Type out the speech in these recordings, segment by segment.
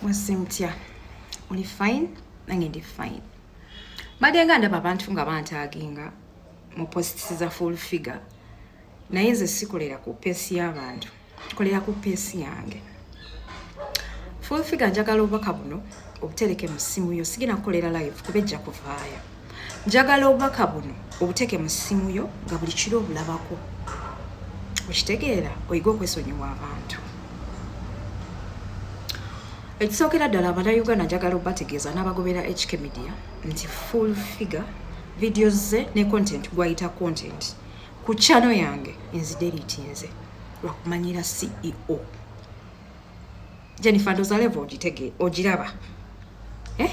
mwese mutya oli fine nange ndi fine mbadde nga ndaba abantu nga bantaaginga mu positisi za full figure naye nze sikolera ku peesi y'abantu kolera ku peesi yange full figure njagala obubaka buno obutereke mu ssimu yo sigenda kukolera live kuba ejja kuvaayo njagala obubaka buno obuteke mu ssimu yo nga buli kiro obulabako okitegeera oyige okwesonyiwa abantu ekisookera ddala abanauganda njagala obategeeza n'abagobera hk media nti full figure videos ze ne content gwayita content ku chano yange enzideritiinze lwakumanyira ceo jennifer ndozalevo ogitege ogiraba eh?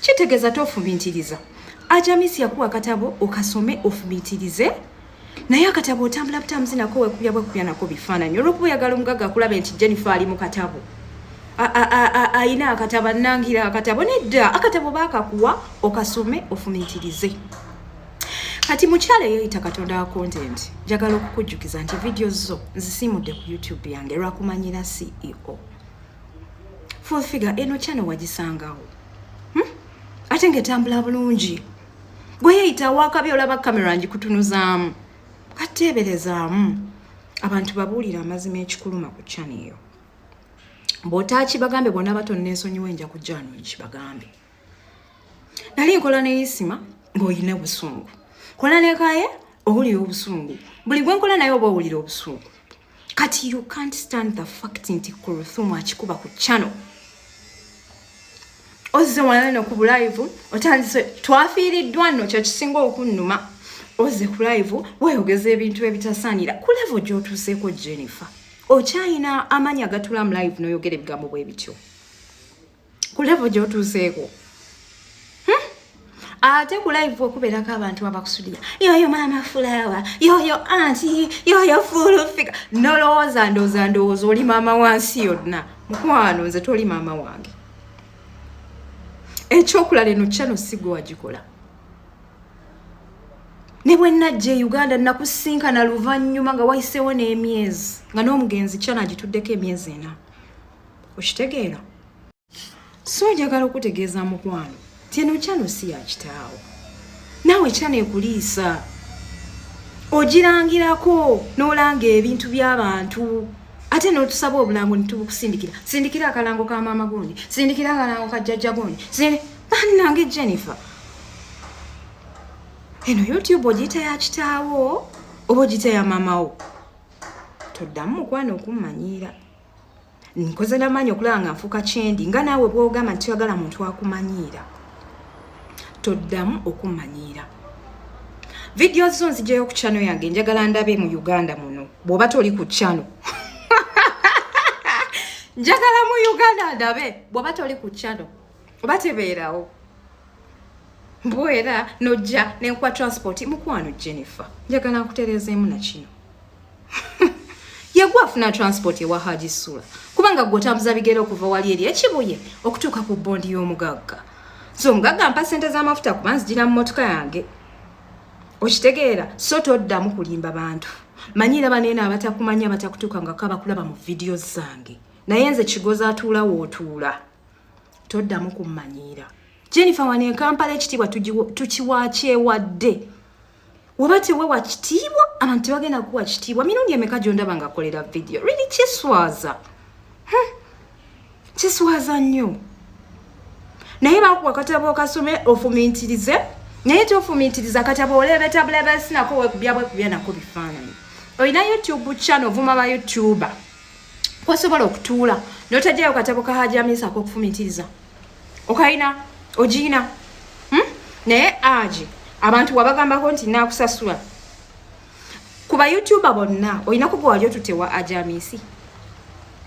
kitegeza tofubintiriza ajamisi yakuwa akatabo okasome ofubintirize naye akatabo otambula butambuzi nako wekubya bwekubya nako bifaananyi olwokuba oyagala omugaga akulabe nti jennifer ali mu katabo ayina akatabo anangira akatabo nedda akatabo bakakuwa okasome ofumintirize kati mukyala eyeyita katonda wa content njagala okukujjukiza nti vidiyo zo nzisimudde ku youtube yange lwakumanyira ceo full figure eno channel wagisangawo hmm? ate ngaetambula bulungi gwe yeyita wakabi olaba kamera ngikutunuzaamu kateeberezaamu abantu babuulira amazima ekikuluma ku chana eyo bwotaaki bagambe bona abato nensonyiwa enja ku jano nkibagambe nali nkola neyisima ngaoyina obusungu kola nekaye owulira obusungu buli gwenkola naye oba owulira obusungu kati you can't stand the fact nti kuruthumu akikuba ku channel ozze wala no ku live otandise twafiiriddwa nno kyo kisinga okunnuma ozze ku live weeyogeza ebintu ebitasaanira ku levo gy'otuuseeko jennifer okyayina amaanyi agatula mu live n'oyogera ebigambo bwe bityo ku levo gyotuuseeko hmm? ate ku live okubeerako abantu abakusudia yoyo maama fulawa yoyo anti yoyo fulufika nolowooza ndooza ndowooza oli maama wansi yonna mukwano nze toli maama wange ekyokulala eno kyano sigwe wagikola ne bwe najja e uganda nakusinkana luvannyuma nga wayiseewo n'emyezi nga n'omugenzi kyana agituddeko emyezi ena okitegeera so njagala okutegeeza mukwano tino kyano si yakitaawo naawe kyano ekuliisa ogirangirako n'olanga ebintu by'abantu ate notusaba obulango nitubukusindikira sindikira akalango ka maama gundi sindikira akalango ka jjajja gundi bannange jennifer eno youtube ogiyita ya kitaawo oba ogiyita ya maamawo toddamu mukwano okummanyiira nkoze namaanyi okulaba nga nfuuka kyendi nga naawe bwogamba nti toyagala muntu akumanyiira toddamu okumanyiira vidiyo zo nzijayo ku chano yange njagala ndabe mu uganda muno bwoba toli ku chano njagala mu uganda ndabe bwoba toli ku chano oba tebeerawo mbwera nojja nenkuwa transport mukwano jennifer njagala nkutereezeemu nakino yagwa afuna transport ewa haji sula kubanga gwe otambuza bigere okuva wali eri ekibuye okutuuka ku bondi y'omugagga so omugagga mpa sente z'amafuta kuba nzigira mu motoka yange okitegeera so toddamu kulimba bantu manyira baneena abatakumanya batakutuuka nga kaba kulaba mu vidiyo zange naye nze kigozi atuula wootuula toddamu kummanyiira jennifer wano enkampala ekitiibwa tukiwakyewadde waba tewewa kitiibwa abantu tebagenda kuwa kitiibwa mirundi emeka gyondaba nga kolera vidiyo really kiswaza hmm. kiswaza nnyo naye bakuwa katabo kasome ofumintirize naye tofumintiriza katabo olebetabulabasinako wekubyabwekubyanako bifaananyi olina youtube channel vuma ba youtuber kwasobola okutuula notajayo katabo kahajaminsako okufumintiriza okaina ogiina hmm? naye agi abantu wabagambako nti nakusasula ku bayoutuba bonna olina kuga wali otutewa aja amisi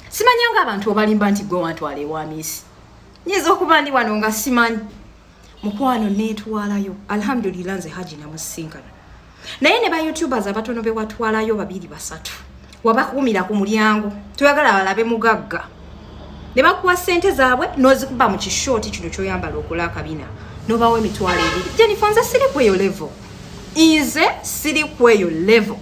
simanya nga abantu obalimba nti gwe wantwala ewa amisi nyinza okuba ndi wano nga simanyi mukwano netwalayo alhamdulillah nze haji namusinkana naye ne ba youtubers abatono bewatwalayo babiri basatu wabakumira ku mulyango toyagala balabe mugagga ne bakuwa sente zaabwe nozikuba mu kishooti kino kyoyambala okola akabina nobawo emitwalo ebiri jenifa nze siri kweyo level nze siri kweyo level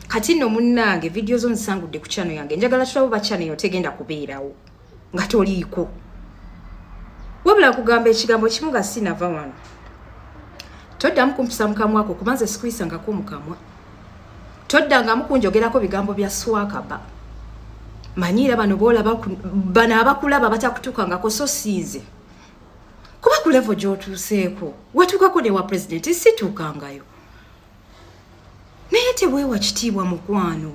kati no munnange vidiyo zo nzisangudde ku chano yange njagala tulabo ba chano eyo tegenda kubeerawo nga toliiko wabula kugamba ekigambo kimu nga sinava wano toddamu kumpisa mukamwa ako kuba nze sikuyisangako mukamwa toddangamu kunjogerako bigambo bya swakaba manyiira bano boolaba bano abakulaba batakutuukangako so siinze kuba ku levo gyotuuseeko watuukako newa pulezidenti situukangayo naye tebwewa kitiibwa mukwano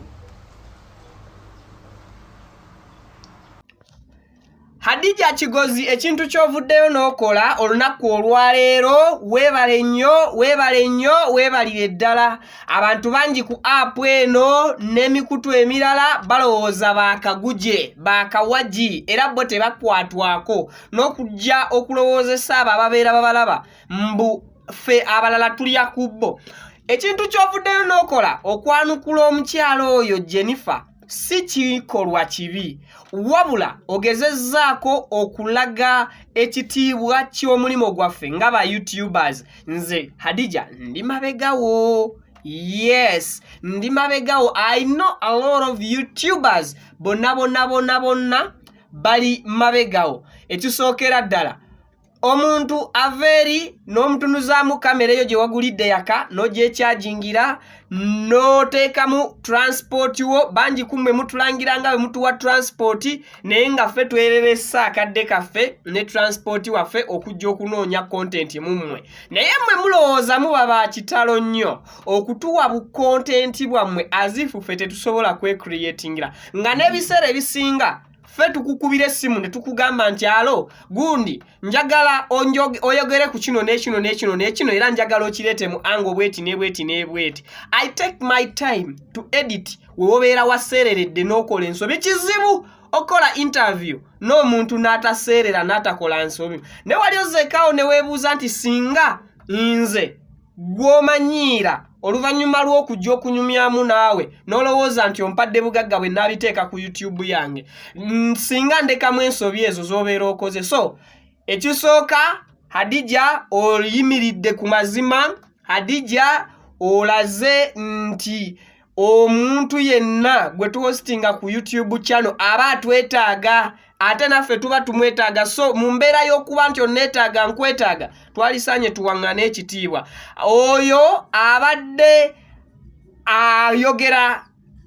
Hadija Kigozi ekintu ky'ovuddeyo n'okola olunaku olwaleero weebale nnyo weebale nnyo weebalire ddala abantu bangi ku apu eno n'emikutu emirala balowooza baakaguje baakawagi era bo tebakwatwako n'okujja okulowoozesa abo ababeera babalaba mbu ffe abalala tulya ku bo ekintu ky'ovuddeyo n'okola okwanukula omukyala oyo Jennifer si kikolwa kibi wabula ogezezzaako okulaga ekitiibwa ky'omulimu gwaffe nga ba youtubers nze hadija ndi mabegawo yes ndi mabegawo i know a lot of youtubers bonna bonna bonna bonna bali mabegawo ekisookera ddala omuntu ava eri n'omutunuzaamu kamera eyo gye wagulidde yaka n'ogyekyagingira n'oteekamu turansipooti wo bangi kummwe mutulangira nga bwe mutuwa turansipooti naye nga ffe twereresa akadde kaffe ne turansipooti waffe okujja okunoonya kontenti mu mmwe naye mmwe mulowooza muba ba kitalo nnyo okutuwa bukontenti bwammwe azifu ffe tetusobola kwekriyetingira nga n'ebiseera ebisinga ffe tukukubira essimu ne tukugamba nti alo gundi njagala oyogere ku kino n'ekino n'ekino n'ekino era njagala okireete mu anga obweti n'ebweti n'ebweti i take my time to edit we wobeera waseereredde n'okola ensobi kizibu okukola interview n'omuntu n'ataseerera n'atakola nsobi ne wali ozekaawo ne weebuuza nti singa nze gw'omanyiira oluvannyuma lw'okujja okunyumyamu naawe n'olowooza nti ompadde bugagga bwe naabiteeka ku youtube yange singa ndekamu ensobi ezo z'obeera okoze so ekisooka hadija oyimiridde ku mazima hadija olaze nti omuntu yenna gwe tuhostinga ku youtube channel aba atwetaaga ate naffe tuba tumwetaaga so mu mbeera y'okuba nti onneetaaga nkwetaaga twalisaanye tuwaŋŋana ekitiibwa oyo abadde ayogera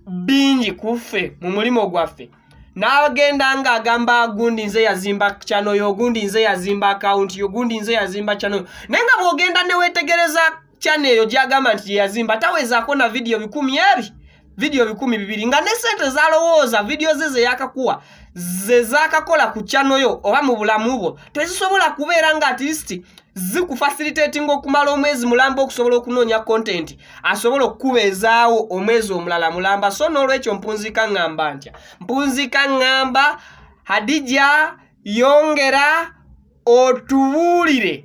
bingi ku ffe mu mulimu gwaffe n'agenda ng'agamba gundi nze yazimba kyanoyo ogundi nze yazimba akawunti ogundi nze yazimba kyanoyo naye nga bw'ogenda ne weetegereza channel eyo gyagamba nti gyeyazimba tawezaako na vidiyo bikumi eri vidiyo bikumi bibiri nga ne sente zalowooza vidiyo ze zeyakakuwa ze zakakola ku channel yo oba mu bulamu bwo tezisobola kubeera nga atleast zikufasilitatinga okumala omwezi mulamba okusobola okunoonya kontenti asobola okukubeezaawo omwezi omulala mulamba so n'olwekyo mpunziika ŋŋamba ntya mpunziika ŋŋamba hadija yongera otubuulire